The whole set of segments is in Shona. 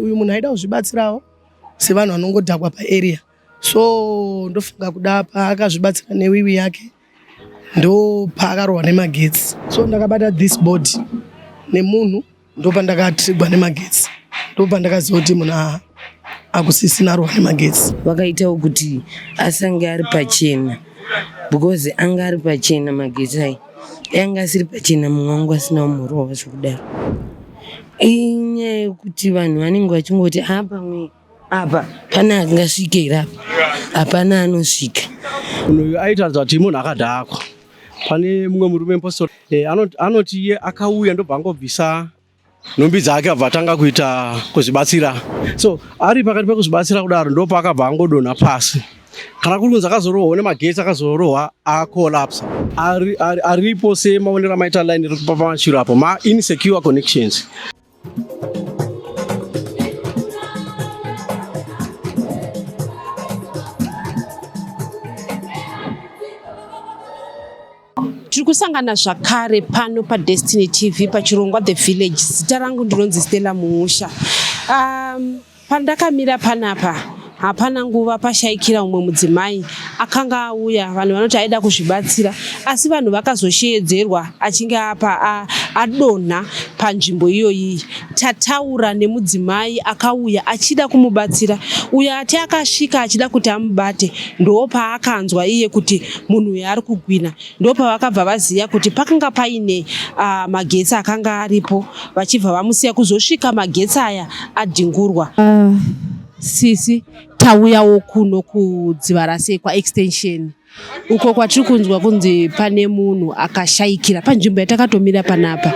uyu munhu aida kuzvibatsirawo sevanhu vanongodhakwa paarea so ndofunga kuda paakazvibatsira newiwi yake ndopaakarohwa nemagetsi so ndakabata this board nemunhu ndopandakatrigwa nemagetsi ndopandakaziva kuti munhu aa akusisina rohwa nemagetsi vakaitawo kuti asange ari pachena because anga ari pachena magetsi ayi yanga asiri pachena mumwe wangu asina umhorwa wacho kudaro inyaya yekuti vanhu vanenge vachingoti a ah, pamwe apa pana angasvike ira hapana anosvika unoyu aitaridza kuti munhu akadhakwa pane mumwe murume mpostori eh, anoti iye akauya ndobva angobvisa nhumbi dzake abva atanga kuita kuzvibatsira so ari pakati pekuzvibatsira kudaro ndo paakabva angodonha pasi kana kuri kunzi akazorohwa une magetsi akazorohwa akolapsa ari, ari, aripo semaonero amaita line iri kupa pamachiro apo ma insecure connections tiri kusangana zvakare pano padestiny tv pachirongwa the village zita rangu ndinonzi stella muusha um, pandakamira panapa hapana nguva pashaikira umwe mudzimai akanga auya vanhu vanoti aida kuzvibatsira asi vanhu vakazosheedzerwa achinge apa adonha panzvimbo iyoyiyi tataura nemudzimai akauya achida kumubatsira uyo ati akasvika achida kuti amubate ndoo paakanzwa iye kuti munhu uyu ari kugwina ndopavakabva vaziva kuti pakanga paine uh, magetsi akanga aripo vachibva vamusiya kuzosvika magetsi aya adhingurwa uh, sisi tauyawo kuno kudziva rasekwa extension uko kwatiri kunzwa kunzi pane munhu akashayikira panzvimbo yatakatomira panapa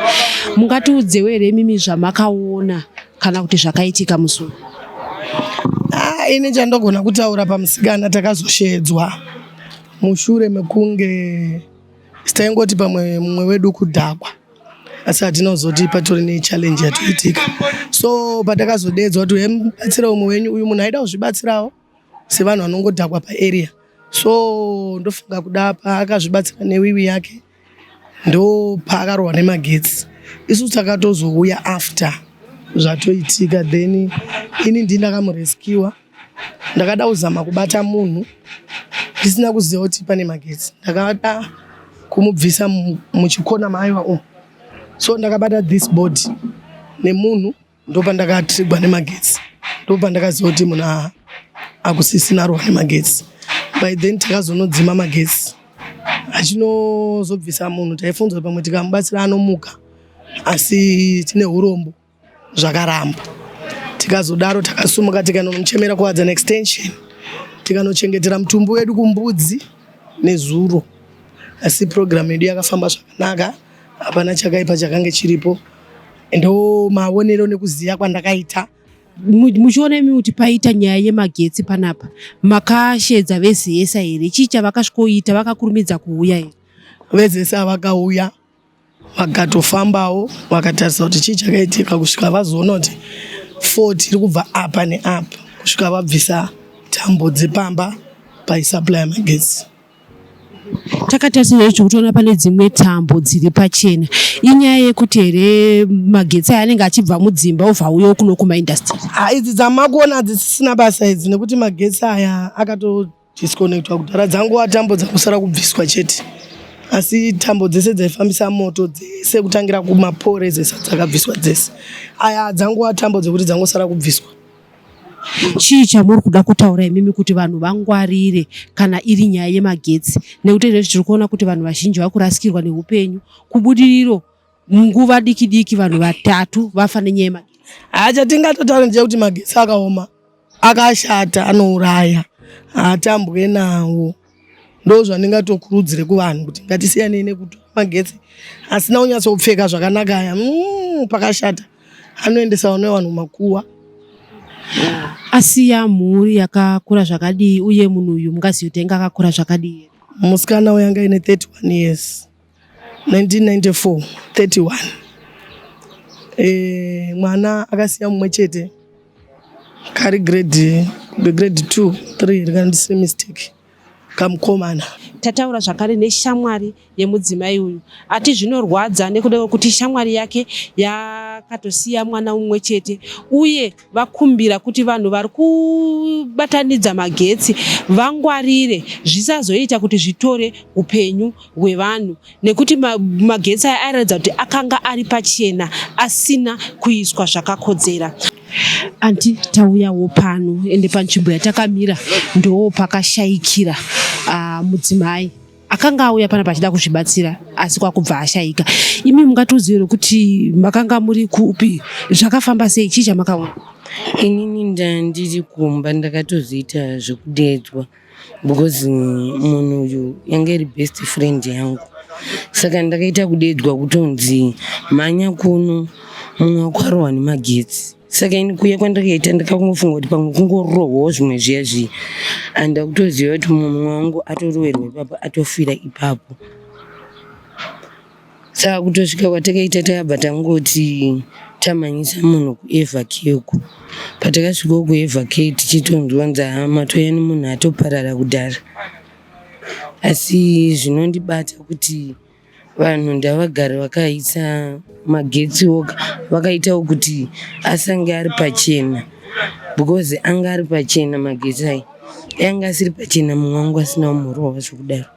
mungatiudzewo here mimi zvamakaona kana kuti zvakaitika musi uyu ah, ini chandogona kutaura pamusikana takazoshedzwa mushure mekunge taingoti pamwe mumwe wedu kudhakwa asi hatina kuzoti patori nechallenji yatoitika so patakazodedzwa kuti hemubatsira umwe wenyu uyu munhu aida kuzvibatsirawo sevanhu vanongodhakwa paarea so ndofunga kuda paakazvibatsira newiwi yake ndopaakarwa nemagetsi isu takatozouya after zvatoitika then ini ndi ndakamureskiwa ndakada kuzama kubata munhu ndisina kuziva kuti pane magetsi ndakada kumubvisa muchikona maaiva umu so ndakabata this body nemunhu ndopandakatrigwa nemagetsi ndopandakaziva kuti muna akusisina rohwa nemagetsi by then takazonodzima magetsi achinozobvisa munhu taifunzwa pamwe tikamubatsira anomuka asi tine urombo zvakaramba tikazodaro takasumuka tikanomuchemera kuadza neextension tikanochengetera mutumbi wedu kumbudzi nezuro asi purogiramu yedu yakafamba zvakanaka hapana chakaipa chakange chiripo ndo maonero nekuziva kwandakaita muchiona imi kuti paita nyaya yemagetsi panapa makashedza vezesa here chii chavakasvikoita vakakurumidza kuuya here vezesa vakauya vakatofambawo vakatarisa kuti chii chakaitika kusvika vazoona kuti fo tiri kubva apa neapa kusvika vabvisa tambo dzepamba paisaply yemagetsi Takatarisa izvozvo tiri kutoona pane dzimwe tambo dziri pachena. Inyaya yekuti here magetsi aya anenge achibva mudzimba obva auyawo kuno kumaindastiri? Ha, idzi dzamakuona hadzisisina basa idzi nekuti magetsi aya akatodisconnectwa kudhara. Dzangova tambo dzangosara kubviswa chete asi tambo dzese dzaifambisa moto dzese kutangira kumapore dzese dzakabviswa dzese. Aya dzangova tambo dzekuti dzangosara kubviswa. Chii chamuri kuda kutaura imimi kuti vanhu vangwarire kana iri nyaya yemagetsi nekuti izvezvi tiri kuona kuti vanhu vazhinji vari kurasikirwa neupenyu. Kubudiriro munguva diki diki vanhu vatatu vafa nenyaya yemagetsi. Haa chatingatotaura ndechekuti magetsi akaoma akashata anouraya hatambwe nawo. ndozvandingatokurudzire kuvanhu kuti ngatisiyanei nekutora magetsi asina kunyatsopfeka zvakanaka aya mm, pakashata anoendesa vana vevanhu makuwa asiya mhuri yakakura zvakadii uye munhu uyu mungazii kuti anga akakura zvakadii musikana uyu anga ine 31 years 1994 31 e, mwana akasiya mumwe chete kari grade grade 2 3 rikandisiri mistake kamukomana tataura zvakare neshamwari yemudzimai uyu ati zvinorwadza nekuda kwekuti shamwari yake yakatosiya mwana umwe chete uye vakumbira kuti vanhu vari kubatanidza magetsi vangwarire zvisazoita kuti zvitore upenyu hwevanhu nekuti magetsi aya airatidza kuti akanga ari pachena asina kuiswa zvakakodzera anti tauyawo pano ende panzvimbo yatakamira ndoo pakashayikira ah, mudzimai akanga auya pana pachida kuzvibatsira asi kwakubva ashaika imi mungatiudzire kuti makanga muri kupi zvakafamba sei chii chamakaona inini ndandiri kumba ndakatozoita zvekudeedzwa because munhu uyu yange iri best friend yangu saka ndakaita kudeedzwa kutonzi mhanya kuno mumwe wako arohwa nemagetsi saka ini kuya kwandakaita ndakakungofunga kuti pamwe kungorohwawo zvimwe zviya zviya and akutoziva kuti mumwe wangu atorowerwa ipapo atofira ipapo saka kutosvika kwatakaita tayabva tangoti tamhanyisa munhu kuevhakeku patakasvikawo kuevhake tichitonzwa nzahama toya nemunhu atoparara kudhara asi zvinondibata kuti Vanhu ndavagare vakaisa magetsi oga vakaitawo kuti asange ari pachena because anga ari pachena magetsi ayi anga asiri pachena mumwe wangu asina umurova zvekudaro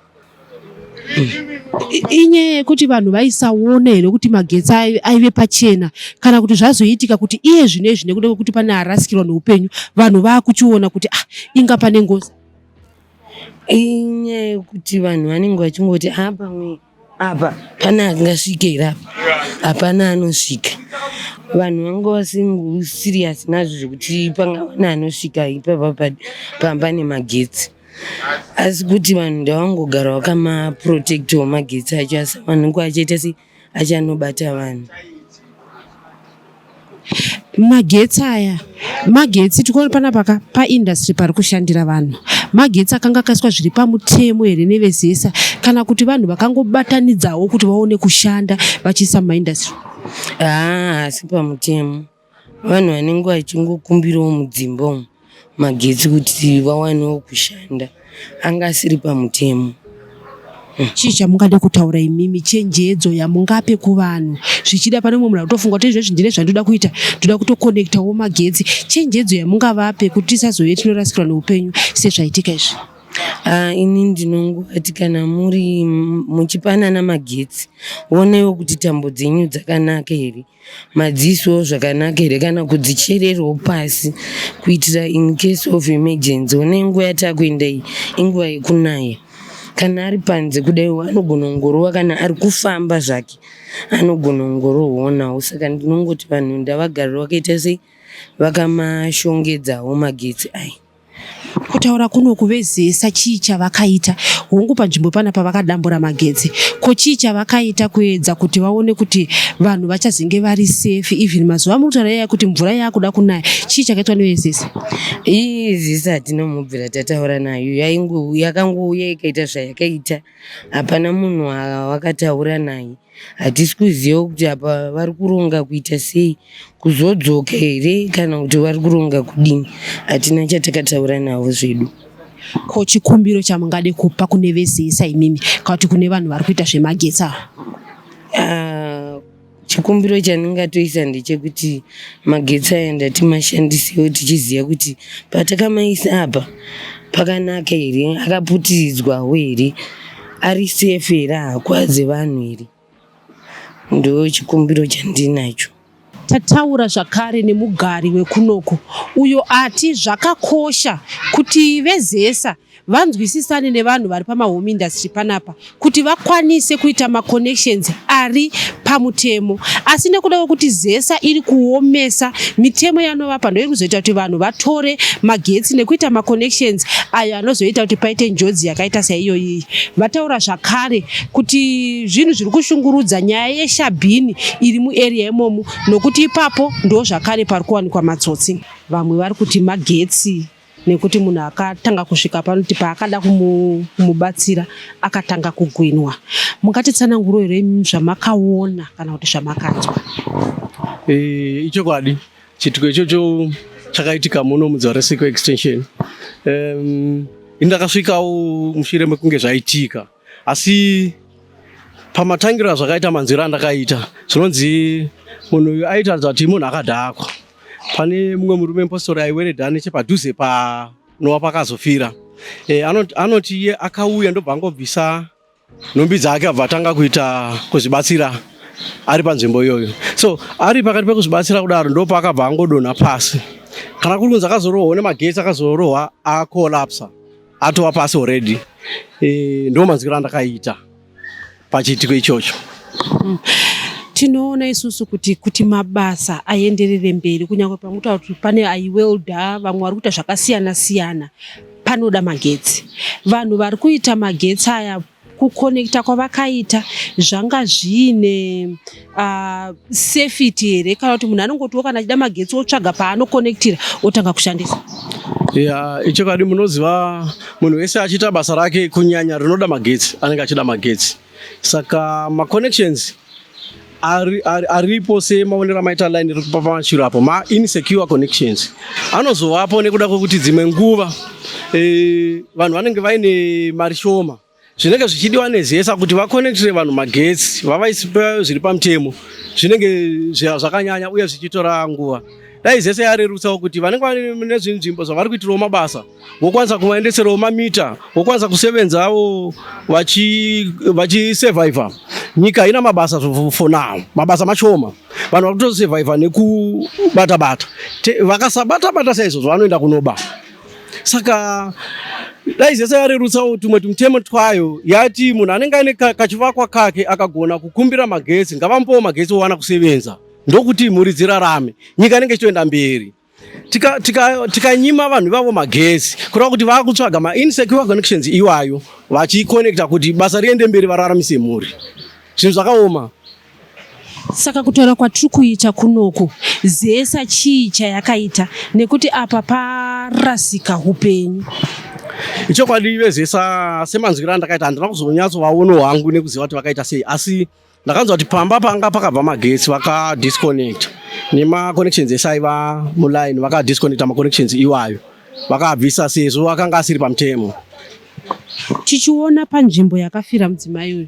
inyaya yekuti vanhu vaisaona here kuti magetsi aive pachena kana kuti zvazoitika kuti iye zvino izvi nekuda kwekuti pane arasikirwa neupenyu vanhu vakuchiona kuti ah inga pane ngozi Inyaya yekuti vanhu vanenge vachingoti haa pamwe apa pane angasvike here apa, hapana anosvika. Vanhu vanga vasingo siriyasi nazvo zvekuti pangava neanosvika ipapa pa- pamba nemagetsi. Asi kuti vanhu ndavangogara vakamapurotekitawo magetsi acho asi vanhu vanenge vachiita sei, achanobata vanhu magetsi aya magetsi tikuona panapa ka paindustry pari kushandira vanhu magetsi akanga akaiswa zviri pamutemo here nevezesa kana kuti vanhu vakangobatanidzawo kuti vaone kushanda vachiisa mumaindustry haa ah, asi pamutemo Vanhu vanenge vachingokumbirawo mudzimba umu magetsi kuti vawanewo kushanda anga asiri pamutemo. Chii chamungade kutaura imimi chenjedzo yamungape kuvanhu zvichida pane umwe munhu akutofunga kuti izvezvi ndine zvandoda kuita ndoda kutokonekitawo magetsi chenjedzo yamungavape kuti tisazove tinorasikirwa neupenyu sezvaitika izvi Ah, ini ndinongoti kana muri muchipanana magetsi wonewo kuti tambo dzenyu dzakanaka here madziso zvakanaka here kana kudzichererwo pasi kuitira in case of emergency one nguva yatakuenda iyi inguva yekunaya kana ari panze kudaiwo anogona kungorova kana ari kufamba zvake anogona kungorohonawo saka ndinongoti vanhu ndavagarira vakaita sei vakamashongedzawo magetsi aya kutaura kuno kuvezesa chii chavakaita hongu panzvimbo pana pavakadambura magetsi ko chii chavakaita kuedza kuti vaone kuti vanhu vachazenge vari safe even mazuva amuri kutaura yaya kuti mvura yakuda kunaya chii chakaitwa nevezesa izisa tinomubvira tataura nayo yaingouya yakangouya ikaita zvayakaita hapana munhu wawakataura naye hatisi kuziva kuti apa vari kuronga kuita sei kuzodzoka here kana kuti vari kuronga kudini hatina chatakataura navo zvedu ko chikumbiro chamungade kupa kune vese isa imimi kana kuti kune vanhu vari kuita zvemagetsi ava uh, Chikumbiro chandingatoisa ndechekuti magetsi aya ndatimashandisewo tichiziva kuti patakamaisa apa pakanaka here, akaputiridzwawo here, ari safe here, haakwadze vanhu here. Ndo chikumbiro chandinacho. Tataura zvakare nemugari wekunoku uyo ati zvakakosha kuti vezesa vanzwisisane nevanhu vari pamahome industry panapa kuti vakwanise kuita maconnections ari pamutemo asi nekuda kwekuti zesa iri kuomesa mitemo yanovapa ndoiri kuzoita kuti vanhu vatore magetsi nekuita maconnections ayo anozoita kuti paite njodzi yakaita saiyoyiyi vataura zvakare kuti zvinhu zviri kushungurudza nyaya yeshabhini iri muarea imomo nokuti ipapo ndo zvakare pari kuwanikwa matsotsi vamwe vari kuti magetsi nekuti munhu akatanga kusvika panoti paakada kumubatsira akatanga kugwinwa mungatitsananguro here zvamakaona kana kuti zvamakanzwa eh, ichokwadi chitiko ichocho chakaitika muno mudzaresiko extension um, ini ndakasvikawo mushure mekunge zvaitika asi pamatangiro azvakaita manzwiro andakaita zvinonzi munhu uyu aitaridza kuti munhu akadhakwa pane mumwe murume mupostori aiweredha nechepadhuze panowa pakazofira e, anoti iye akauya ndobva angobvisa nhumbi dzake abva atanga kuita kuzvibatsira ari panzvimbo iyoyo so ari pakati pekuzvibatsira kudaro ndopaakabva angodonha pasi kana kuri kunzi akazorohwa nemagetsi akazorohwa akolapsa atova pasi already e, ndo manzwiro andakaita pachiitiko ichocho mm. tinoona isusu kuti kuti mabasa aenderere mberi kunyange pamuta kuti pane aiwelda vamwe vari kuita zvakasiyana siyana panoda magetsi vanhu vari kuita magetsi aya kukonekita kwavakaita zvanga zviine uh, safety here kana kuti munhu anongotiwo kana achida magetsi otsvaga paanokonektira otanga kushandisa ya ichokwadi munoziva munhu wese achiita basa rake kunyanya rinoda magetsi anenge achida magetsi saka maconnections ari, ari, aripo semaonero amaita line iri kupa pamashiro apo ma insecure connections anozovapo nekuda kwekuti dzimwe nguva e, vanhu vanenge vaine mari shoma zvinenge zvichidiwa nezesa kuti vakonektire vanhu magetsi vavaisipa zviri pamutemo zvinenge zvakanyanya uye zvichitora nguva dai zese yarerutsawo kuti vanenge vane zvinzvimbo zvavari kuitirawo mabasa wokwanisa kuvaendeserawo mamita wokwanisa kusevenzawo vachisurvivha vachi nyika haina mabasa for now mabasa mashoma vanhu vari kutosurvivha nekubata bata vakasabata bata saizvozvo vanoenda kunoba saka dai zese yarerutsawo tumwe tumutemo twayo yati munhu anenge aine kachivakwa kake akagona kukumbira magetsi ngavambowo magetsi owana kusevenza ndokuti mhuri dzirarame nyika inenge ichitoenda mberi tikanyima tika, tika vanhu ivavo magezi kureva kuti vakutsvaga mainsecure connections iwayo vachiconnecta kuti basa riende mberi vararamise mhuri zvinhu zvakaoma saka kutaura kwatiri kuita kunoku zesa chii chayakaita nekuti apa parasika upenyu ichokwadi vezesa semanzwiro andakaita handina kuzonyatsovaono hwangu nekuziva kuti vakaita sei asi ndakanzwa kuti pamba panga pakabva magetsi vakadisconnect nemaconnections ese aiva muline vakadisconnecta maconnections iwayo vakabvisa sezvo akanga asiri pamutemo tichiona panzvimbo yakafira mudzimai uyu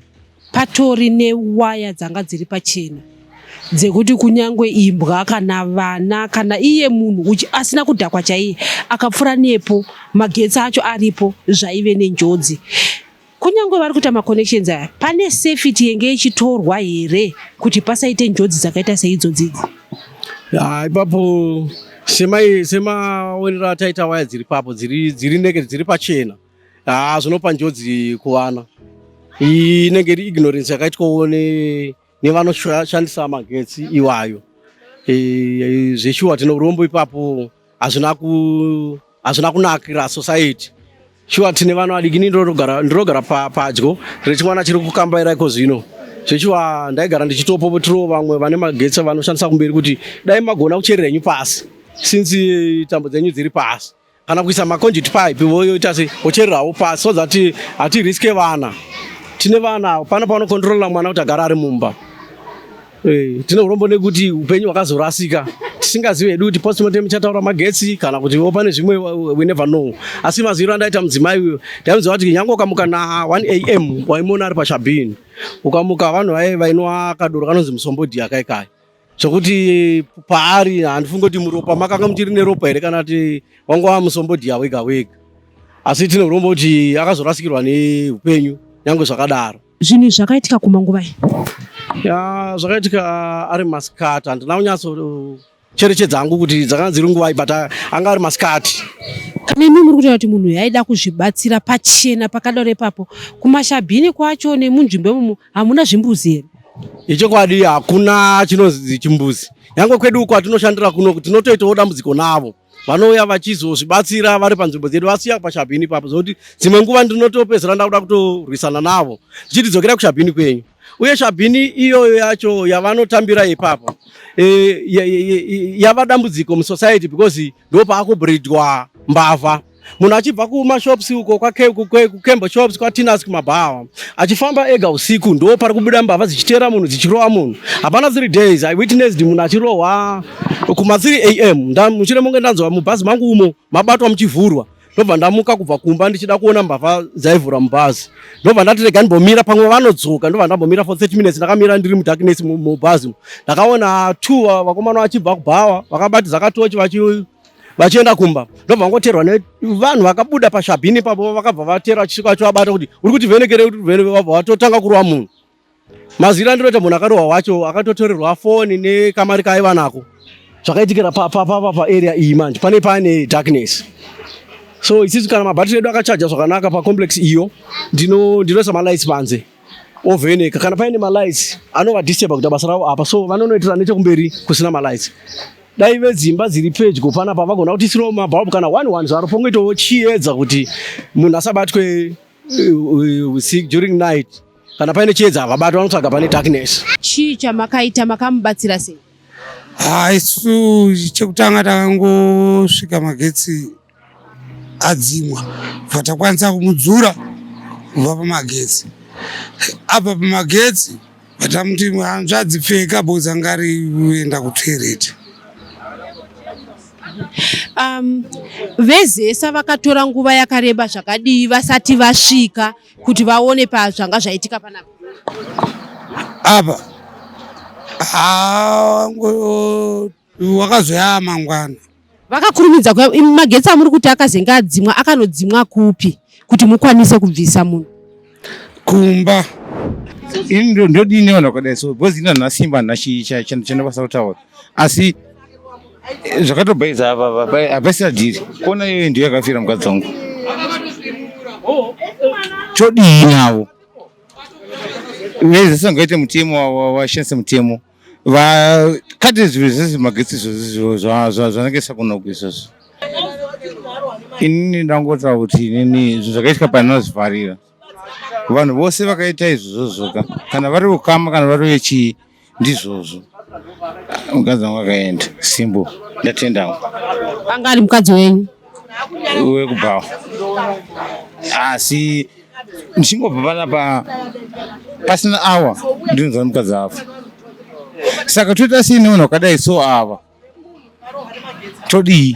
patori newaya dzanga dziri pachena dzekuti kunyange imbwa kana vana kana iye munhu asina kudhakwa chaiye akapfura nepo magetsi acho aripo zvaive nenjodzi Kunyangwe vari kuita maconnections aya, pane safety yenge ichitorwa here kuti pasaite njodzi dzakaita seidzodzidzo? Ah, ipapo semaonero ataita waya dziri papo dziri naked dziri pachena ah, zvinopa njodzi kuvana inenge iri ignorance yakaitwawo ne nevanoshandisa magetsi iwayo e, e, zveshuwa tine urombo ipapo hazvina ku hazvina kunakira society shuwa tine vana vadiki ni ndinogara padyo rechimwana chiri kukambaira iko zvino zveshuwa ndaigara ndichitopopotirawo vamwe vane magetsi vanoshandisa kumberi kuti dai magona kucherera henyu pasi since tambo dzenyu dziri pasi kana kuisa maconduit pipe voyoita se vochererawo pasi so that hatiriske vana tine vana pano panokontrolla mwana kuti agara ari mumba eh, tine urombo nekuti upenyu hwakazorasika tisingazivi hedu kuti postmortem ichataura magetsi kana kuti wo pane zvimwe we never know asi maziviro andaita mudzimai uyo ndaimuziva kuti nyange ukamuka na 1 am waimona ari pashabhini ukamuka vanhu vaye vainwa kadoro kanonzi musombodhi yakaikai zvekuti paari handifungi kuti muropa makanga muchiri neropa here kana kuti wanga wamusombodhiya wega wega asi tinoromba kuti akazorasikirwa neupenyu nyange zvakadaro zvinhu izvi zvakaitika kumanguva ya zvakaitika ah, ari masikati handina kunyatso cherechedza hangu kuti dzakanga dziri nguvai but ah, anga ari masikati kana imi muri kutaura kuti munhu uyu aida kuzvibatsira pachena pakadaro ipapo kumashabhini kwacho nemunzvimbo imomo hamuna zvimbuzi here Ichokwadi hakuna chinonzi chimbuzi. Nyangwe kwedu uko atinoshandira kuno tinotoitawo dambudziko navo. Vanouya vachizozvibatsira vari panzvimbo dzedu vasiya pashabhini ipapo zvokuti dzimwe nguva ndinotopedzera ndakuda kutorwisana navo ndichiti dzokera kushabhini kwenyu. Uye shabhini iyoyo yacho yavanotambira ipapo e, yava dambudziko musociety because ndopaakubridwa mbavha. munhu achibva kumashops uko kukembo shops kwatinas kumabhawa achifamba ega usiku ndo pari kubuda mbavha dzichiteera munhu dzichirowa munhu hapana three days i witnessed munhu achirohwa kuma 3 am muchine monge ndanzwa mubhazi mangu umo mabatwa muchivhurwa ndobva ndamuka kubva kumba ndichida kuona mbavha dzaivhura mubhazi ndobva ndati rega ndimbomira pamwe vanodzoka ndobva ndambomira for 30 minutes ndakamira ndiri mudarkness mubhazi ndakaona two vakomana vachibva kubhawa vakabati zakatochi vachi vachienda kumba ndobva vangoterwa nevanhu vakabuda pashabhini ipapo vakabva vatera vachivabata kuti uri kuti vhenekere kuti vhenekere vabva vatotanga kurova munhu mazira ndinoita munhu akarohwa wacho akatotorerwa foni nekamari kaaiva nako zvakaitikira papapa paarea iyi manje pane pane darkness so isisu kana mabhatiri edu akachaja zvakanaka pacomplex iyo ndinoisa malights panze ovheneka kana paine malights anovadisturba kuita basa ravo apa so vanonoitira nechekumberi kusina malights dai vedzimba dziri pedyo panapa vagona kuti isirawo mabhabu kana one one zvaro pongoitawo chiedza kuti munhu asabatwe uh, uh, sick during night kana paine chiedza havabatwa vanotsvaga pane darkness chii chamakaita makamubatsira sei haisu chekutanga takangosvika magetsi adzimwa bva takwanisa kumudzura kubva pamagetsi abva pamagetsi vatamuti hanzvadzi pfeka boza ngari uenda kutoireti um, vezesa vakatora nguva yakareba zvakadii vasati vasvika kuti vaone pazvanga zvaitika panapa apa wakazoyaa mangwana vakakurumidza kuya magetsi amuri kuti akazenge adzimwa akanodzimwa kupi kuti mukwanise kubvisa munhu kumba ini ndo- ndodini vanhu vakadai so because ini handina simba handina chi- cha- cha- chandinokwanisa kutaura asi eh, zvakatobhaiza apa apa- apa- hapaisina dhiri kona iyoyo ndiyo yakafira mukadzi wangu chodii navo vese sangaite mutemo wa- wa- washandise mutemo vakati zvinhu zvese magetsi izvozvo zvanenge sakunoko izvozvo inini ndangotaura kuti inini izvo zvakaitwa panozvivharira vanhu vose vakaita izvozvoka kana vari ukama kana vari vechii ndizvozvo mukadzi wangu akaenda simbo ndatendawo anga ari mukadzi wenyu wekubhawa asi ndichingobva panapa pasina awa ndinonzwa nemukadzi afa saka toita sei nevanhu vakadai so ava todii